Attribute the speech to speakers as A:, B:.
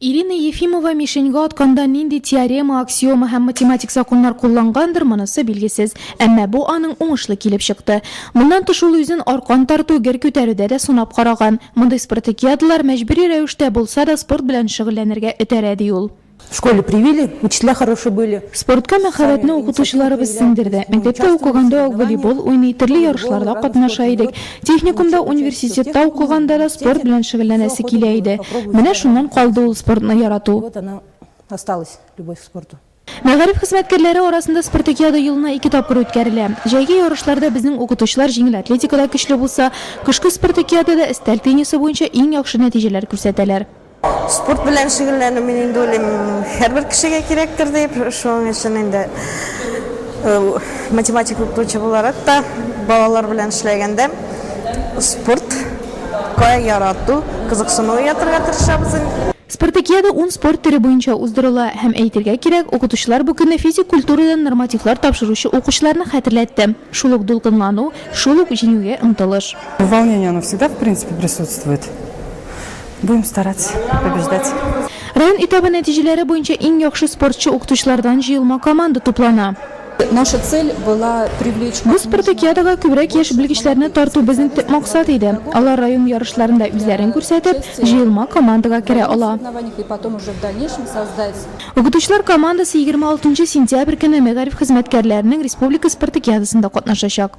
A: Ирина Ефимова мишеньга атканда нинди теорема, аксиома һәм математик законнар куллангандыр, монысы билгесез. Әмма бу аның уңышлы килеп чыкты. Моннан тыш ул үзен аркан тарту, гер күтәрүдә дә сынап караган. Мондый спартакиадалар мәҗбүри рәвештә булса да спорт белән шөгыльләнергә этәрә, ди ул. В школе привили,
B: учителя хорошие были. Спортка мәхәббәтне
A: укытучыларыбыз сеңдерде. Мәктәптә укыганда ук волейбол уйный, төрле ярышларда катнаша идек. Техникумда, университетта укыганда да спорт белән шөгыльләнәсе килә иде. Менә шуннан калды ул спортны ярату. Вот она
B: осталась, любовь к спорту. Мәгариф хезмәткәрләре
A: арасында спартакиада елына ике тапкыр үткәрелә. Җәйге ярышларда безнең укытучылар җиңел атлетикада көчле булса, кышкы спартакиадада өстәл теннисы буенча иң яхшы нәтиҗәләр күрсәтәләр. Спорт белән
C: шөгыльләнү, мин инде уйлыйм, һәрбер кешегә кирәктер дип. Шуның өчен инде математика укытучы буларак та, балалар белән эшләгәндә спортка ярату, кызыксыну уятырга тырышабыз инде. Спартакиада
A: ун спорт төре буенча уздырыла. Һәм әйтергә кирәк, укытучылар бу көнне физик культурадан нормативлар тапшыручы укучыларны хәтерләтте. Шул ук дулкынлану, шул ук җиңүгә омтылыш. Волнение оно всегда
D: в принципе присутствует. Будем стараться побеждать. Район этабы
A: нәтиҗәләре буенча иң яхшы спортчы укытучылардан җыелма команда туплана. Наша цель
E: была привлечь. Бу спартакиадага
A: күбрәк яшь белгечләрне тарту безнең төп максат иде. Алар район ярышларында үзләрен күрсәтеп, җыелма командага керә ала.
E: Укытучылар
A: командасы егерме алтынчы сентябрь көнне мәгариф хезмәткәрләренең республика спартакиадасында катнашачак.